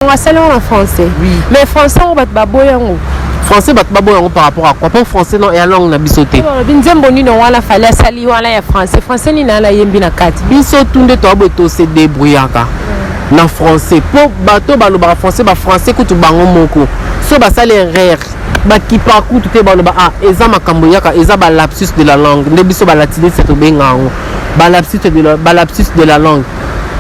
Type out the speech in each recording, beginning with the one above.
Sango asali yango na français. Oui. Mais français yango bato baboyi yango. français bato baboya yango par rapport à quoi mpo français non ya langue na biso te balobi nzembo nino wana fali asali wana ya français français nini ana yembi na kati biso tu nde toya boye tose débrouillaka na français mpo bato balobaka français bafrançais kutu bango moko so basali erreur bakipa kutu te baloba ah eza makambo yaka eza balapsus de la langue nde biso balatiniste tobenga yango balapsus de la langue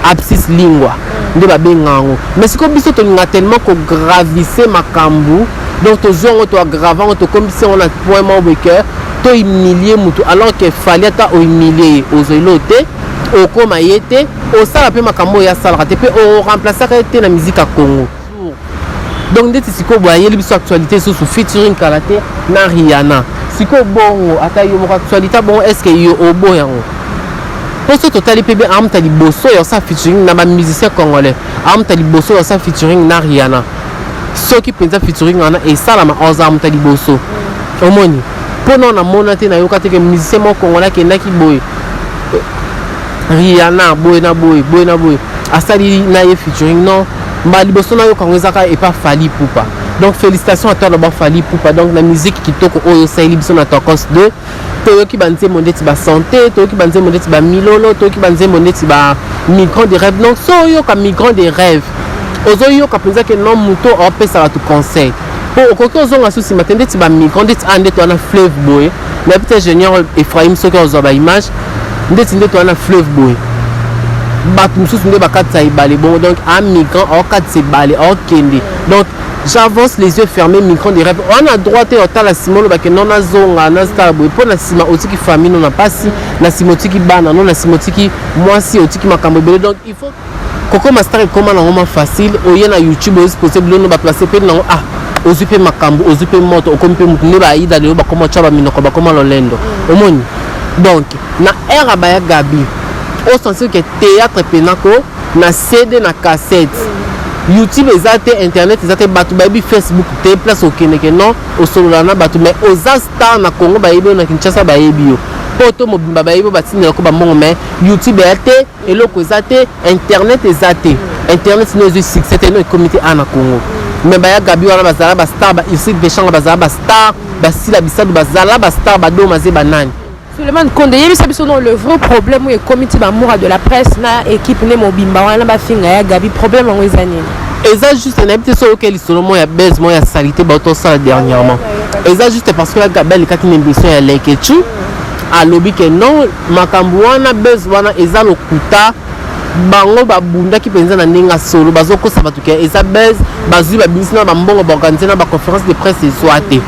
abscisse lingua nde babenga yango mais sikoyo biso tolinga tellement kogravise makambo donc tozwi yango toagrave yango tokomisi yango na point moko boye ke tohumilie motu alors ke fali ata ohumilie ye ozweli oyo te okoma ye te osala mpe makambo oyo asalaka te mpe oremplasaka ye te na miziki ya congo donc ndeti sikoyo boye ayeli biso actualité lisusu featuring kala te na riana sikoyo bongo ata yo moko actualité bongo est ce que yo obo yango mpo soki totali mpe be amta liboso ya osa featuring na bamusicien congolais amta liboso ya osa featuring na riana soki mpenza featuring wana esalama oza amta liboso omoni mpo nao namona te nayoka te ke musicien moko congolais akendaki boye Rihanna boye na boye boye na boye asali na ye featuring non mbala liboso nayoka yango ezaka epa fali pupa donc félicitation à toi loba fali pupa donc na musique kitoko oyo osaleli biso na tokos 2 toyoki banzembo ndeti ba santé toyoki banzembo ndeti ba milolo toyoki banzembo ndeti ba migrant de rêve donc so oyoka migrant de rêve ozoyoka mpenza ke non moto opesa bato conseil po okoki ozonga su nsima te ndeti bamigrant ndeti a ndeti wana fleuve boye nayebi te ingénieur ephraim soki ozwa baimage ndeti ndeti wana fleuve boye bato mosusu nde bakatisa ebale bongo donc a migrant aokatisa ebale aokende donc j'avance les yeux fermés migrant de rêve wana droit te otala nsima olobake no nazonga nazotala boye mpo na nsima otiki famille no na mpasi na nsima otiki bana no na nsima otiki mwasi otiki makambo ebele donc il faut kokoma star ekoma nango ma facile oye na youtube ozi pose bilono baplace mpe nango ah ozwi mpe makambo ozwi mpe moto okomi mpe motu nde baida lelo bakoma tya baminoko bakoma lolendo mm. omoni donc na aire ya baya gabi osentir ke théâtre mpena ko na cd na cassette mm. youtube eza te internet eza te bato bayebi facebook te place okendeke non osolola na bato mais oza star na congo bayebi yo na kinshasa bayebi yo poto mobimba bayebi yo batindelako bambongo mais youtube eya te eloko eza te internet eza te internet no ezwi succès te no ekomi te awa na congo me baya gabi wana bazala bastar ba ursile vechanga bazala bastar basila bisadu bazala bastar badoma ze banani Suleiman Konde yebisa biso non le vrai problème oyo ekomi ti bamura de la presse na équipe nde mobimba wana bafinga ya gabi problème yango eza nini eza juste nayebi te soki oyoki lisolo moko ya base moko ya salite bato osala dernièrement eza juste parce que ya gabi alekaki na émission ya lekechu alobi ke non Makambo wana buzz wana eza lokuta bango babundaki mpenza na ndenge ya solo bazokosa bato ke eza buzz bazwi babimisi na bambongo baorganize na baconférence de presse ezwa te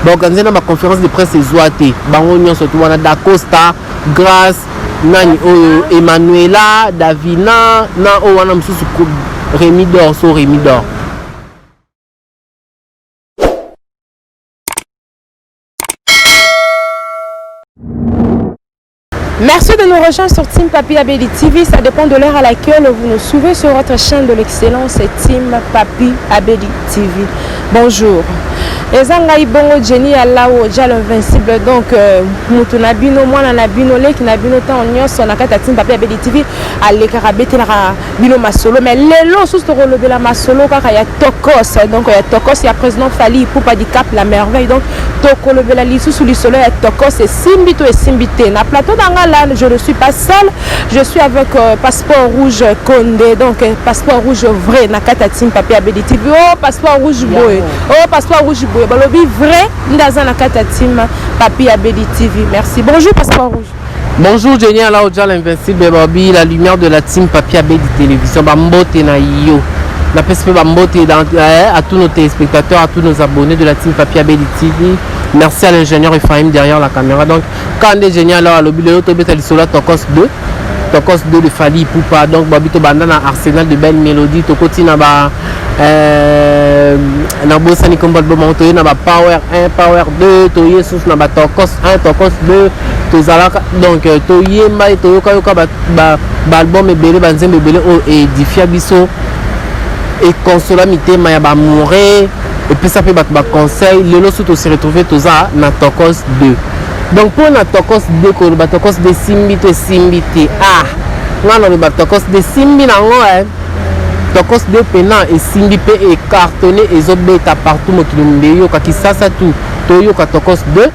baorganize na baconférence de presse ezwa te bango nyonso to wana dacosta grace nani oyo emmanuela davina na oyo wana mosusu remi dor so remi dor Merci de nous rejoindre sur Team Papi Abedi TV. Ça dépend de l'heure à laquelle vous nous suivez sur votre chaîne de l'excellence Team Papi Abedi TV. Bonjour. eza ngai bongo jeni ya lawo jalo invincible donc euh, motu na bino mwana na bino leki na bino ntango nyonso na kati ya team papi abedi tv alekaka abetelaka bino masolo mais lelo susu tokolobela masolo kaka ya tokos donc ya tokos ya président fali ipupa di cap la merveille donc tokolobela lisusu lisolo ya tokos esimbi to esimbi te na plateau na nga la je ne suis pas seul je suis avec euh, passeport rouge conde donc euh, passeport rouge vrai na kati ya team papier abedi tv o oh, passeport rouge boye o oh, passeport rouge boye balobi vrai nde aza na kati ya team papier abedi tv merci bonjour passeport rouge Bonjour Jenny Ala Oja l'invincible Bobby la lumière de la team Papi Abedi télévision ba mbote na yo na pesi pe ba mbote eh, à tous nos téléspectateurs à tous nos abonnés de la team Papi Abedi TV merci à l'ingénieur Ephraim derrière la caméra donc quand des Jenny Ala alobi lelo to beta lisolo tokos 2 tokos 2 de Fally Ipupa donc Bobby to banda na Arsenal de belle mélodie tokoti na ba Euh, nabosani kombo album yango toye na bapower 1 power 2 toye susu na batokos 1 tokos 2 tozalaka donc euh, toyemba ye toyokayoka baalbum ebele banzembo ebele oyo edifia biso ekonsola mitema ya bamoure epesa mpe bato baconseil lelo su tosi retrouve toza na tokos 2 donc mpo na tokos 2 koloba tokos 2 esimbi to esimbi te ah nga naloba tokos 2 esimbi nango eh. tokos de pena esimbi mpe ecartone ezobeta partout mokili mobimba eyoka kisasa tu toyoka tokos de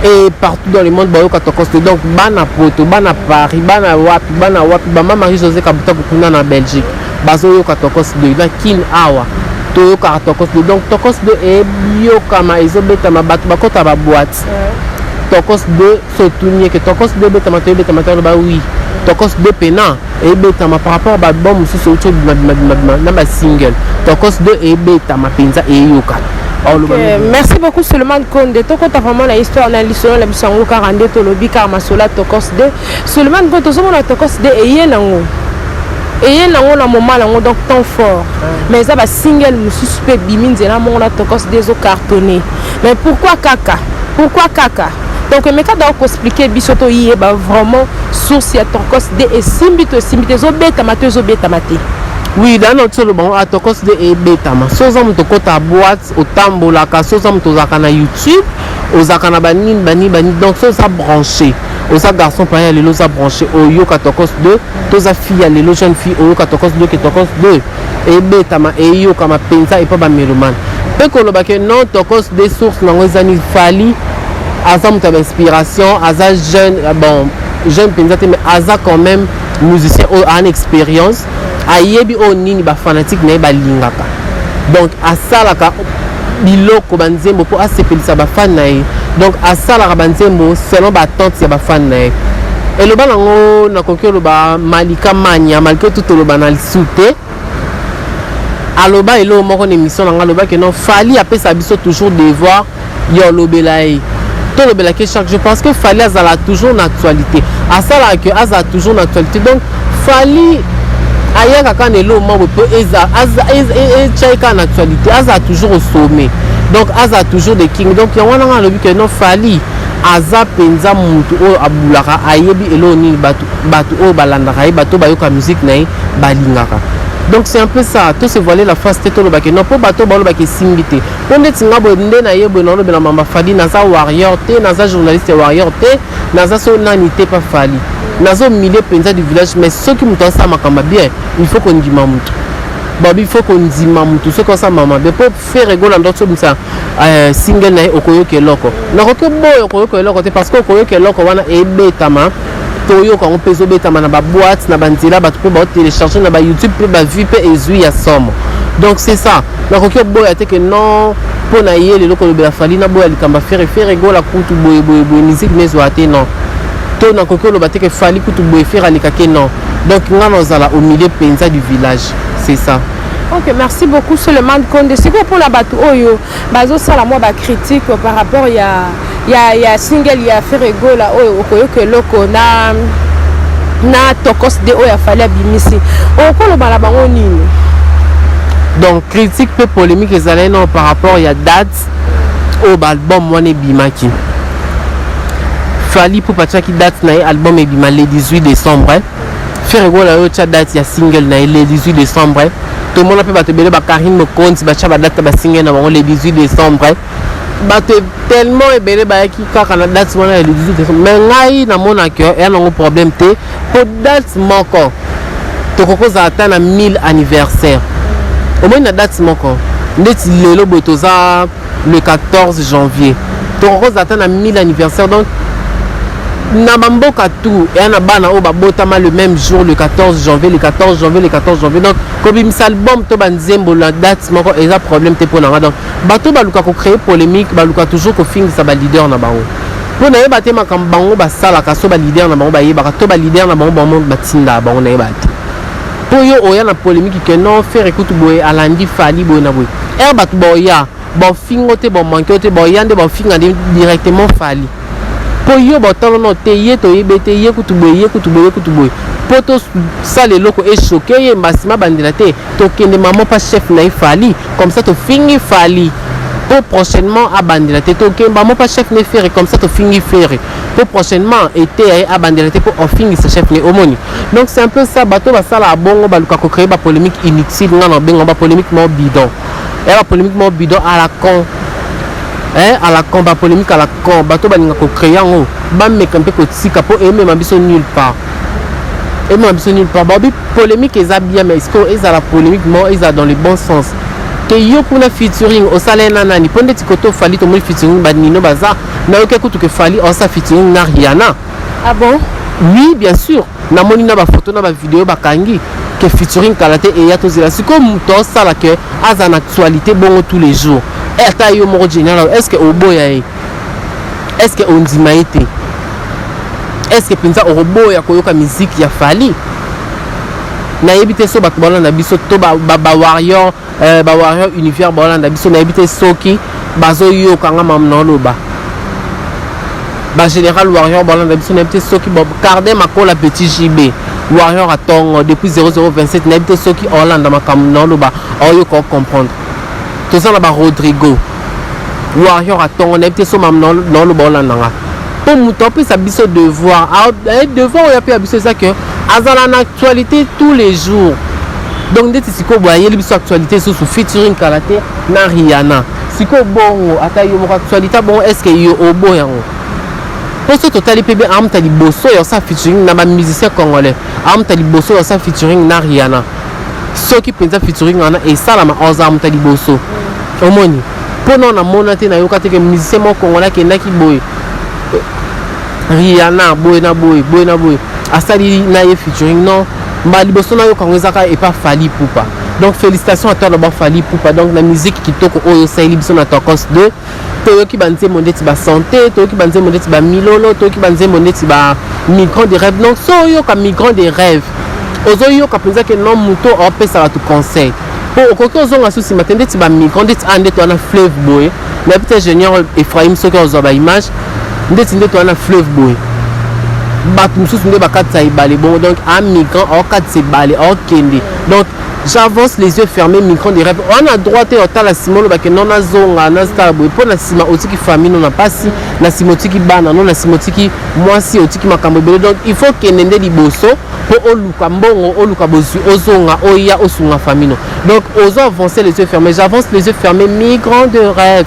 et partout dans le monde bayoka tokos de donc bana poto bana paris bana wapi bana wapi bama marie josé kabuta kokuna na belgique bazoyoka tokos de na kin awa toyokaka tokos de donc tokos de eyokama ezobetama bato bakota baboite tokos de so tuni ye ke tokos de ebetama to ebetama te aloba oui tokos de pena ebetama par rapport baalbum mosusu euti obimabimabimabimaa na basingle tokos de ebetama mpenza eyokana Okay. merci beaucoup suleman konde tokota vraiment na histoire na lisolo na biso yango kaka nde tolobi kaka masola tokos de suleman konde tozomona tokos de eye nango eye nango na moma nango donc temps fort mais eza basingle mosusu mpe ebimi nzela moko na tokos de ezocartonne mais pourquoi kaka pourquoi kaka donc emeka dao koexplike biso toyeba vraiment source ya tokos de esimbi to esimbi te ezobetama to ezobetama te oui dana otiolo bango atokos de ebetama so oza moto okota boite otambolaka so oza moto ozalaka na youtube ozalaka na banini banini banini donc so oza branché oza garçon paya ya lelo oza branché oyoka tokos de toza fille ya lelo jeune fille oyoka tokos de ke tokos de ebetama eyokama mpenza epa ba melomane mpe koloba ke non tokos de source nango ezani fali aza moto ya bainspiration aza jeune euh, bon jeune mpenza te mais aza quand même musicien oyo an expérience ayebi oyo nini bafanatique na ye balingaka donc asalaka biloko ba nzembo po asepelisa ba fan na ye donc asalaka ba nzembo selon ba attente ya ba fan na ye eloba nango nakoki oloba malika mania malgré tout oloba na lisu te aloba eloko moko na émission na ngai alobaki non fali apesa biso toujours devoir Yo lobela ye. To lobela ke chaque jour parce que Fally azala toujours na actualité. Asala que azala toujours na actualité. Donc Fally ayaka kaka na eloko moko mpo eza etya ye kaka na actualité azala toujours au sommet donc azala toujours de king donc yango wana ngai alobi ke non fali aza mpenza motu oyo abulaka ayebi eloko nini bato oyo balandaka ye bato bayoka miziki na ye balingaka donc c'est un peu ça to se voiler la face te tolobake non mpo bato balobaka esimbi te po ndeti nga boye nde na ye boye na lobela mama fali naza warrior te naza journaliste warrior te naza so nani te pa fali nazo milieu penza du village mais soki moto asala makambo bien il faut kondima moto babi faut kondima moto soki osala mama bien po fere gola ndo sobimisa euh, single na ye okoyoka eloko nakoki boye okoyoka eloko te parce que okoyoka eloko wana ebetama toyoka yango mpe ezobetama na baboite na banzela bato mpe baotelecharge na bayoutube mpe bavue mpe ezwi ya somo donc c'est ça Nakoki oboya te que non mpo na ye lelo kolobela Fally naboya likambo ya Ferre Ferre gola kutu boye boye boye musique nezwa te non to nakoki oloba te que Fally kutu boye Ferre aleka te non donc nga nazala au milieu mpenza du village c'est ça Ok, merci beaucoup Suleiman Konde. Sikoyo mpo na bato oyo bazosala mwa ba critique par rapport ya ya ya single ya Ferre Gola oyo okoyoka eloko na na tokos de oyo afali abimisi okoloba na bango nini donc critique mpe polémique ezalaki nao par rapport ya date oyo baalbum wana ebimaki fali pupa atyaki date na ye album ebima le 18 décembre eh. ferre gola yo otya date ya single na ye le 18 décembre eh. tomona mpe bato ebele bakarine mokonzi batya badate ya basingle na bango le 18 décembre eh. bato tellement ebele bayaki kaka na date wana ya le 18 décembre mais ngai namonaki eya nango problème te mpo date moko tokoki kozala ata na 1000 anniversaire omoni na date moko ndeti lelo boye toza le 14 janvier tokoki kozala ata na 1000 anniversaire donc na bamboka tout eya na bana oyo babotama le même jour le 14 janvier le 14 janvier le 14 janvier donc kobimisa album to banzembo na date moko eza problème te mpo na nga donc Bato baluka ko cree polemique baluka toujours kofingisa ba leader na bango mpo nayeba te makambo bango basalaka so ba leader na bango bayebaka to ba leader na bango bango batindaka bango nayeba te mpo yo oya na polemique ke non fere kutu boye alandi fali boye na boye ere bato baoya baofingo te baomanke yo te baoya nde baofinga nde directement fali mpo yo baotalono te ye toyebe te ye kutu boye ye kutu boye ye kutu boye mpo tosala eloko echoke ye mbasima bandela te Tokende maman pa chef na ye Fally comme ça tofingi Fally po prochainement abandela te tokende maman pa chef ne Ferre comme ça tofingi Ferre po prochainement ete ya ye abandela te po ofingisa chef ne omoni donc c'est un peu ça bato basala abongo baluka ko créer ba polémique inutile nga na bengo ba polémique mo bidon ya ba polémique mo bidon à la con eh, à la con ba polémique à la con bato balinga ko créer yango bameka mpe kotika mpo emema biso nulle part Emema biso nulle part. Babi polemique eza bien mais sikoyo ezala polemique mo ezala dans le bon sens. Te yo kuna featuring osala na nani mpo ndeti koto Fally tomoni featuring ba Nino baza nayoki kutu ke Fally osa featuring na Rihanna. Ah bon? Oui bien sûr namoni na ba photo na ba video bakangi ke featuring kala te eya tozela sikoyo moto osala ke aza na actualité bongo tous les jours. Eh, ata yo moko Genial est-ce que oboya ye? est ce que ondima ye te est ce que mpenza okoboya koyoka miziki ya fali nayebi te so bato balanda biso to bawarior euh, bawarior univers balanda biso nayebi te soki bazoyoka nga mam naoloba bagénéral warrior balanda biso nayebi te soki carde makola petit jb warrior atongo depuis 0027 nayebi te soki olanda makambo naoloba oyoka ocomprendre toza na barodrigo warrior atongo nayebi te so mam naoloba olanda nga mpo moto apesa biso devoir eh, devoir oyo apesa biso eza ke azala na actualité tous les jours donc ndeti sikoyo boye ayeli biso actualité lisusu featuring kala te na riana sikoyo bongo ata yo moko actualité bongo est ce que yo obo yango mpo soki totali mpe be amta liboso ya osa featuring na bamusicien congolais amta liboso ya osa featuring na riana soki mpenza featuring wana esalama ozala moto ya liboso omoni mpo nao namona te nayoka te ke musicien moko kongola akendaki boye riana boye na boye boye na boye asali na ye featuring non mbala liboso nayoka yango ezaka epa fali pupa donc félicitation à toi d'abord fali pupa donc na musique kitoko oyo osaleli biso na tokos 2 toyoki banzembo ndeti ba sante toyoki banzembo ndeti ba milolo toyoki banzembo ndeti ba migrant de rêve donc so oyoka migrant de rêve ozoyoka mpenza ke no moto opesa bato conseil mpo okoki ozonga so nsima te ndeti bamigrant ndeti a ndeti wana fleuve boye nayebi te ingénieur ephraim soki ozwa baimage ndeti ndeti wana fleuve boye bato mosusu nde bakatisa ebale bongo donc amigrant aokatisa ebale aokende donc J'avance les yeux fermés migrant de rêve wana droit te otala sima olobake non nazonga nazotala boye mpo na sima otiki famille no na mpasi na sima otiki bana no na sima otiki mwasi otiki makambo ebele donc il faut kende nde liboso mpo oluka mbongo oluka bozwi ozonga oya osunga famille no donc ozo avance les yeux fermés j'avance les yeux fermés migrant de rêve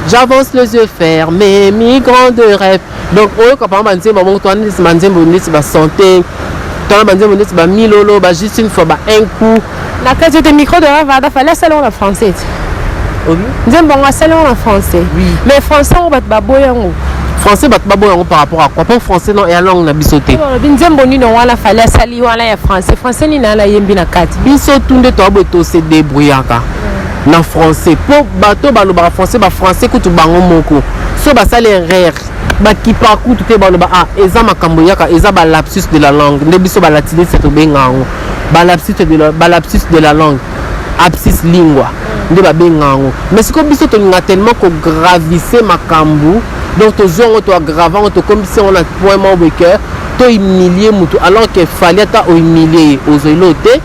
j'avance les yeux fermés migrant de rêve donc oyoka pama banzembo moko twana ndeti banzembo ndeti basante twana banzembo ndeti bamilolo ba juste une fois ba un coup na kati ote micro de ravada fale asala yango na français te nzembo yango asala yango na français mais français yango bato baboya yango français bato baboya yango par rapport à quoi mpo français no ya langue na biso te olobi nzembo nino wana fale asali wana ya français français nini ana yembi na kati biso tu nde toaboye tose debrouillaka na français po bato balobaka français ba français kutu bango moko so basali erreur bakipa kutu te baloba ah eza makambo yaka eza ba lapsus de la langue nde biso ba latiniste tobenga yango ba lapsus de la, ba lapsus de la langue absis lingua nde babenga yango mais sikoyo biso tolinga tellement kogravise makambo donc tozwi yango toagrave yango tokomisi yango na point moko boye ke tohumilie motu alors ke fali ata ohumilie ye ozweli oyo te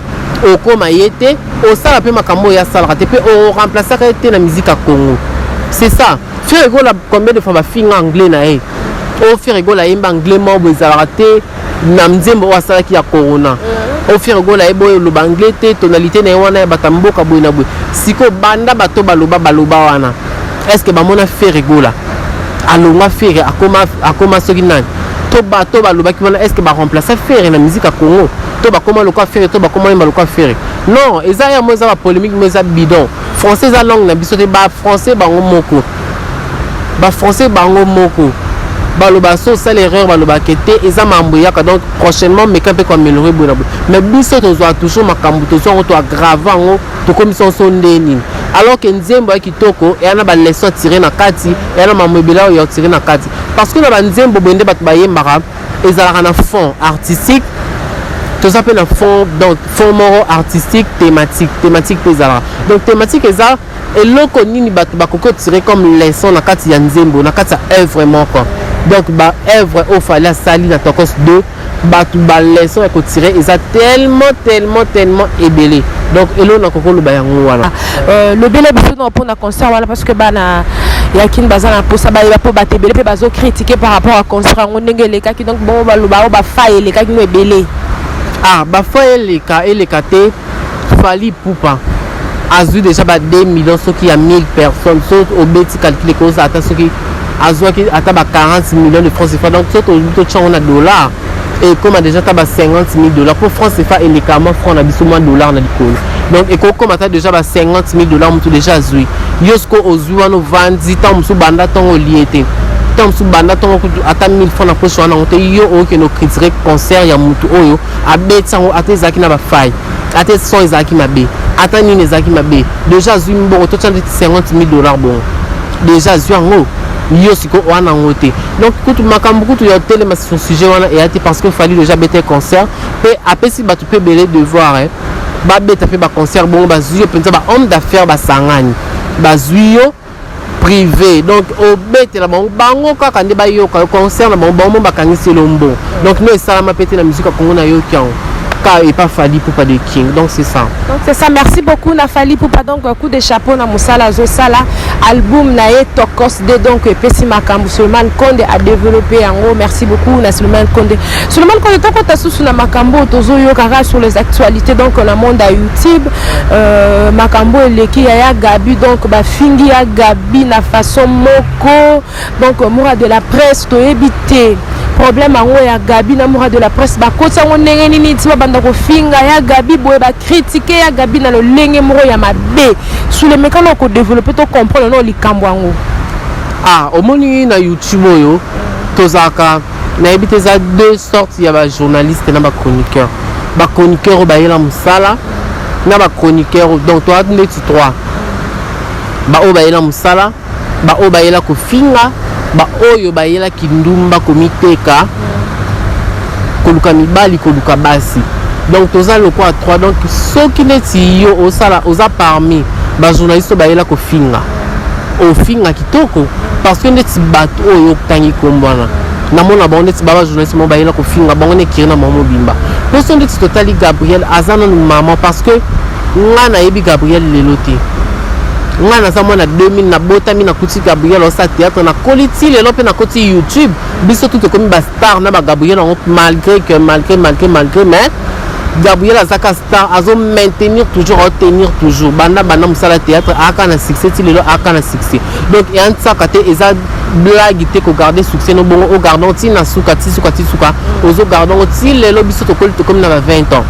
okoma ye te Osala pe makambo ya salaka te pe o remplacer ka te na musique ya Congo. C'est ça. Ferre Gola combien de fois ba finga anglais na ye? O oh, Ferre Gola yemba anglais mo bo ezalaka te na mzembo asalaki ya corona. Mm. ofere gola ye boye oloba anglais te tonalité na ye wana ya bata mboka boye na boye sikoyo banda bato baloba baloba wana estce bamona fere gola alongwa fere akoma, akoma soki nani to bato balobaki wana estce baremplace fere na miziki ya congo to bakoma lokola fere to bakoma yemba lokola fere non eza ya mo eza ba polemique mo eza bidon français eza langue na biso te ba français bango moko ba français bango moko baloba so osala erreur balobaka te eza mambo eyaka donc prochainement meka mpe koaméliorer boye na boye mais biso tozwa toujours makambo tozwa yango toagrave yango tokomisa yango so nde nini alors que nzembo ya kitoko eya na baleson atire na kati eya na mambo ebele oyo ya otire na kati parce que na banzembo boye nde bato bayembaka ezalaka na fond artistique toza mpe na fond donc fond moko artistique thématique thématique mpe ezalaka donc thématique eza eloko nini bato bakoki kotire comme leçon na kati ya nzembo na kati ya œuvre moko donc baœuvre oyo fali asali na tokos 2 bato baleçon ya kotire eza tellement tellement tellement ebele donc eloko nakoki oloba yango wana Euh, lobela biso nao mpona concert wana parce que bana ya kin baza na mposa bayeba mpo bato ebele mpe bazo kritike par rapport ya concert yango ndenge elekaki donc bongo baloba o bafa elekaki no ebele ah bafa eleka eleka te fali pupa azwi déjà ba 2 millions soki ya 1000 personnes so obeti calcule koza ata soki azwaki ata ba 40 millions de francs cfa donc soki totyango na dollar ekoma deja ata ba 50 000 dollars mpo france efa eleka mwa franc na biso mwa dollar na likolo donc ekokoma ata deja ba 50 000 dollars motu deja azwi yo sikoyo ozwi wana ovandi ntango mosusu banda ntongo olie te ntango mosusu banda ntongo kutu ata 1000 franc na poche wana yango te yo okokende okritike concert ya motu oyo abeti yango ata ezalaki na bafai ata son ezalaki mabe ata nini ezalaki mabe deja azwi mbongo totya ndeti 50 000 dollars bongo deja azwi yango yo siko wana yango te donc kutu makambo kutu ya otelema sur sujet wana eya te parce que fali deja bete concert mpe apesi bato mpe ebele devoir eh. babeta mpe baconcert bongo bazwi yo mpenza bahomme d'affaires basangani bazwi yo privé donc obetela bango bango kaka nde bayoka yo concert na bango bango mo bakangisi elombo donc no esalama mpe te na musique ya kongo nayoki yango ka epa fali pupa de king donc c'est ça donc c'est ça merci beaucoup na fali pupa donc coup de chapeau na mosala azosala album na ye tokos de donc epesi makambo suleman konde a développe yango merci beaucoup na suleman konde suleman konde tokota susu na makambo oyo tozoyokaka sur les actualités donc na monde ya youtube euh, makambo eleki ya ya gabi donc bafingi ya gabi na façon moko Donc Mura de la presse toyebi te problème yango ya Gabi na Mura de la presse bakoti yango ndenge nini ti babanda kofinga ya Gabi boye bakritike ya Gabi na lolenge moko ya mabe sulemeka na kodevelope to comprendre na likambo yango ah omoni na youtube oyo tozalaka nayebi te eza deux sortes ya bajournaliste na bachroniqueur bachroniqueur oyo bayela mosala na bachroniqueur donc toa ndeti trois baoyo bayela mosala Ba oyo bayela kofinga, ba oyo bayela kindumba komiteka, koluka mibali, koluka basi. Donc toza lokola trois. Donc soki neti yo osala oza parmi ba journaliste bayela kofinga. Ofinga kitoko parce que neti bato oyo otangi kombo wana namona bango neti baba journaliste moko bayela kofinga bango nekiri na mwa mobimba mposo ndeti totali gabriel aza nanu mama parce que nga nayebi gabriel lelo te ngai naza mwana 2000 nabotami nakuti gabriel osala théâtre nakoli ti lelo mpe nakoti youtube biso tu tokomi bastar na bagabriel yango malgré que malgré malgré malgré mais gabriel azaka star azo maintenir toujours aotenir toujours banda banda mosala théâtre aka na succès ti lelo aka na succès donc eya nsaka te eza blague te kogarde succès no bongo ogardon ti na suka ti suka ti suka ozogarde yango ti lelo biso tokoli tokomi na ba 20 ans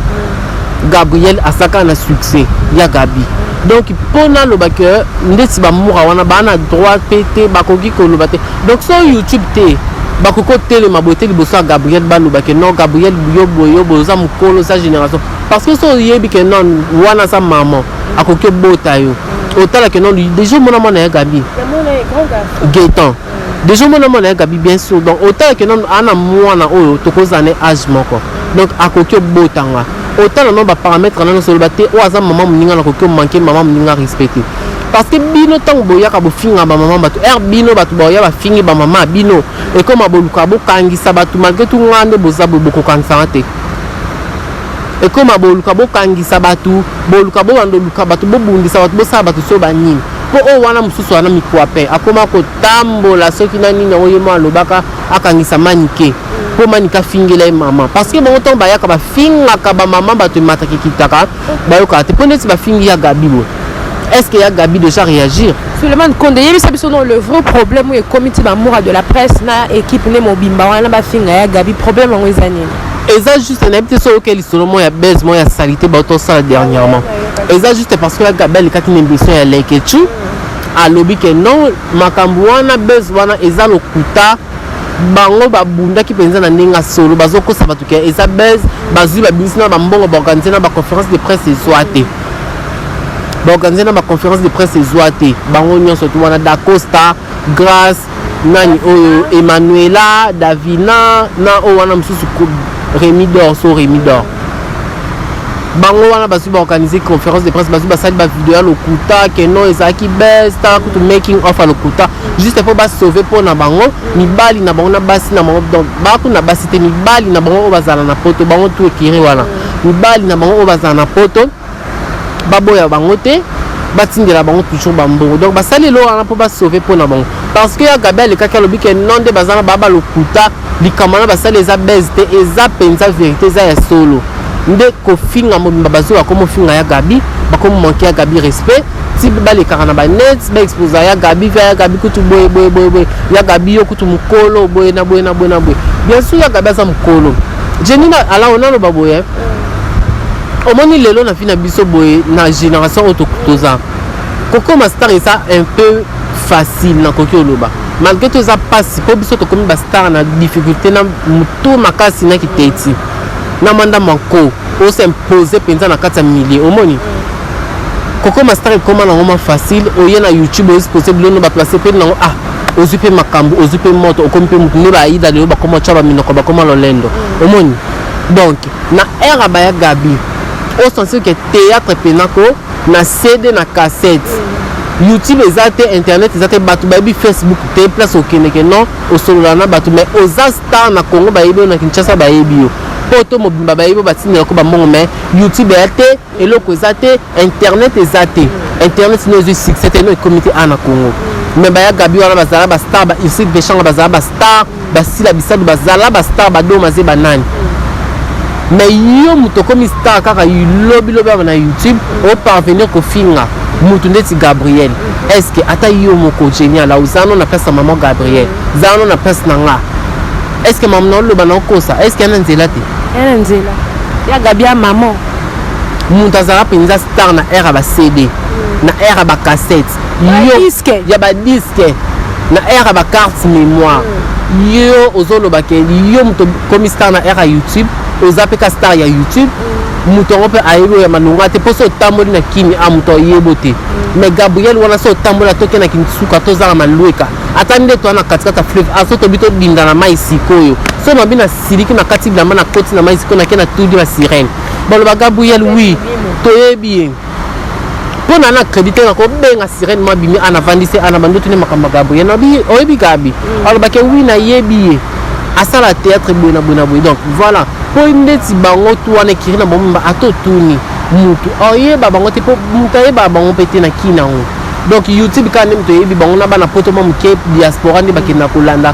Gabriel asaka na succès ya Gabi donc mpo naloba ke ndeti bamura wana baa na droit mpe te bakoki koloba te donc so youtube te bakoki kotelema boye te liboso ya gabriel baloba ke non gabriel yo boye yo boye oza mokolo oza génération parce que so oyebi ke non wana aza maman akoki obota yo otala ke non deja omona mwana ya gabi getan deja omona mwana ya gabi bien sûr donc otala ke nanu ana mwana oyo tokozala na age moko donc akoki obota nga otala nano baparametre nano soloba te oyo aza mama moninga nakoki omanke mama moninga respecte parce que bino ntango boyaka bofinga bamama bato r bino bato baoya bafingi bamama bino ekoma boluka bokangisa bato malgre tu ngaa nde boza boye bokokangisanga te ekoma boluka bokangisa bato boluka bobanda oluka bato bobundisa bato bosala bato so banini po oyo wana mosusu wana mikuape akoma kotambola soki na nini yango ye mo alobaka akangisa manike mpo manika afingela ye mama parce que bango ntango bayaka bafingaka bamama bato emataka ekitaka bayokaka te mpo neti bafingi ya gabi boye est-ce que ya gabi déjà réagir suleman konde yebisa biso no le vrai problème oyo ekomi ti bamoura de la presse na équipe nde mobimba wana bafinga ya gabi problème yango eza nini eza juste nayebi te soki oyoki lisolo moko ya base moko ya salite bato osala dernièrement eza juste parce que gabi alikaki na émission ya lekechou alobi ke non makambo wana bes wana eza lokuta bango babundaki mpenza na ndenge ya solo bazokosa bato ke eza bes bazwi babimisi na bambongo baorganize na baconférence de presse ezwa te baorganize na baconférence de presse ezwa te bango nyonso tu wana dacosta grace nani oyo Emmanuela Davina na oyo wana mosusu Remy Dor so Remy Dor bango wana bazwi baorganize conférence de presse bazwi basali bavideo ya lokuta keno ezalaki best tala kutu making off ya lokuta juste mpo basauve mpo na bango mibali na bango na basi na bango donc baku na basi te mibali na bango oyo bazala na poto bango tu ekiri wana mibali na bango oyo bazala na poto baboya bango te batindela bango toujours bambongo donc basali elo wana mpo basauve mpo na bango parce que ya gabi alekaki alobi ke non nde baza na baa balokuta likambo wana basali eza base te eza mpenza verité eza ya solo nde kofinga mobimba bazoya komofinga ya gabi bakomomanke ya gabi respect ti balekaka na banet baexposa ya gabi via ya gabi kutu boye boye boye boye ya gabi yo kutu mokolo boye na boye na boye na boye bien sûr ya gabi aza mokolo jenina alaona aloba boye omoni lelo na vie na biso boye na génération oyo toza kokoma star eza un peu facile nakoki oloba malgré to eza mpasi mpo biso tokomi bastar na difficulté na motu makasi na kiteti na manda manko osimpoze mpenza na kati ya milieu omoni kokoma star ekoma nango ma facile oye na youtube oexpose bilono baplace mpe nango ah ozwi mpe makambo ozwi mpe moto okomi mpe motu nde baida lelo bakoma tya baminoko bakoma lolendo omoni donc Na era ba ya Gaby, o sentir que theatre pena ko na CD na cassette. YouTube eza te, internet eza te, batu bayebi Facebook te, place okendeke non, osolola na batu mais oza star na Congo bayebi yo na Kinshasa bayebi yo. Poto mobimba bayebi yo batindela ko ba mbongo mais YouTube eya te. eloko eza te internet eza te internet no ezwi succès te no ekomi te awa na congo me baya gabi wana bazala bastar ba ursile veshanga bazala bastar basila bisadu bazala bastar badoma ze banani me yo moto okomi star kaka lobilobi awa na youtube oparvenir kofinga moto ndeti gabriel estce ata yo moko genial aozano na place ya mama gabriel zano na place na nga estce mama na oloba na okosa estce yana nzela te yana nzela ya gabi ya mama moto azalaka mpenza star na aire ya ba cd mm. na aire ya ba cassette ya ba disque na aire ya ba carte mémoire mm. yo ozoloba ke yo moto komi star na aire ya youtube oza mpe ka star ya youtube mm. moto yango mpe ayebi oyo ya malonga te mpo so otamboli na kimi a ah, moto ayebo te mais gabriel wana so otamboli atoke na kinsuka tozala malweka ata nde toa na katikati ya fleuve aso ah, tobi todinda na mai sikoyo so mabi na siliki na kati bilamba na koti na mai siko nake na tudi ba sirene baloba gabriel wi toyebi ye mpo na na crédit te nakobenga sirene mwa bimi ana vandisi ana bandotu nde makambo ya gabriel nabi oyebi gabi mm. alobaki wi nayebi ye asala théâtre boye na boye na boye donc voilà mpo ndeti bango tu wana ekiri na bomimba ata otuni motu oyeba bango te mpo motu ayebaka bango mpe te na kina yango donc youtube kaka nde moto oyebi bango na bana poto mwa moke diaspora nde bakenda kolanda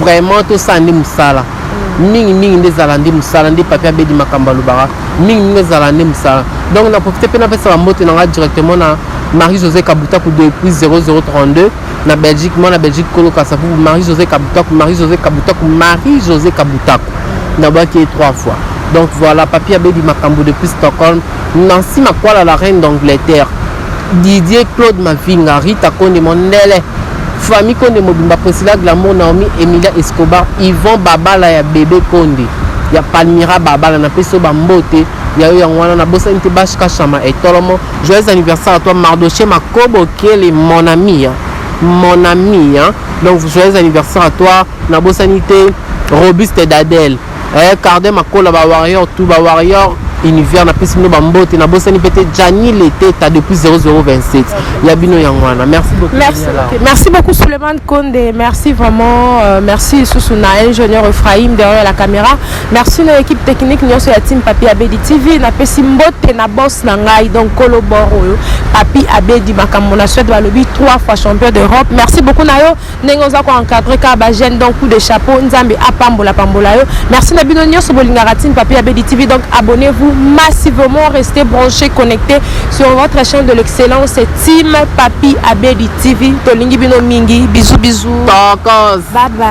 vraiment tosala nde mosala mm. mingi mingi nde ezala nde mosala nde papi abedi makambo alobaka mingi mingi ezala nde mosala donc na profite mpe napesa bambote na ngai directement na marie josé kabutaku depuis 0032 na belgique mwana belgique kolo kasavubu marie josé kabutaku marie josé kabutaku marie josé kabutaku nabwaki ye trois fois donc voilà papi abedi makambo depuis stockholm nancy makwala la reine d'angleterre Didier Claude Mavinga, Rita Konde Mondele, famille Konde mobimba, Priscilla Glamour, Naomi, Emilia Escobar, Yvon Babala ya bebe Konde, ya Palmira Babala, na peso ba mbote ya yo yango wana na bosani te bash kashama etolomo. Joyeux anniversaire à toi Mardoché Makobo Kele mon ami, hein. mon ami, hein. Donc joyeux anniversaire à toi, na bosani te Robuste Dadel. eh, carde makola ba warrior tout ba warrior univers napesi bino bambote nabosani mpe te jani leteta depuis 0027 ya bino yango wana merci beaucoup merci, okay. merci beaucoup suleiman konde merci vraiment euh, merci lisusu na ingénieur ephraim derrière la caméra merci na équipe technique nyonso ya team papi abedi tv napesi mbote na boss na ngai donc kolo bor oyo papi abedi makambo na suède balobi 3 fois champion d'europe merci beaucoup na yo ndenge oza ko encadrer kaka ba jeune donc coup de chapeau nzambe apambola pambola yo merci na bino nyonso bolingaka tin papi ya bedi tv donc abonnez vous massivement restez branché connecté sur votre chaîne de l'excellence team papi abedi tv tolingi bino mingi bisous bisous tokos bye bye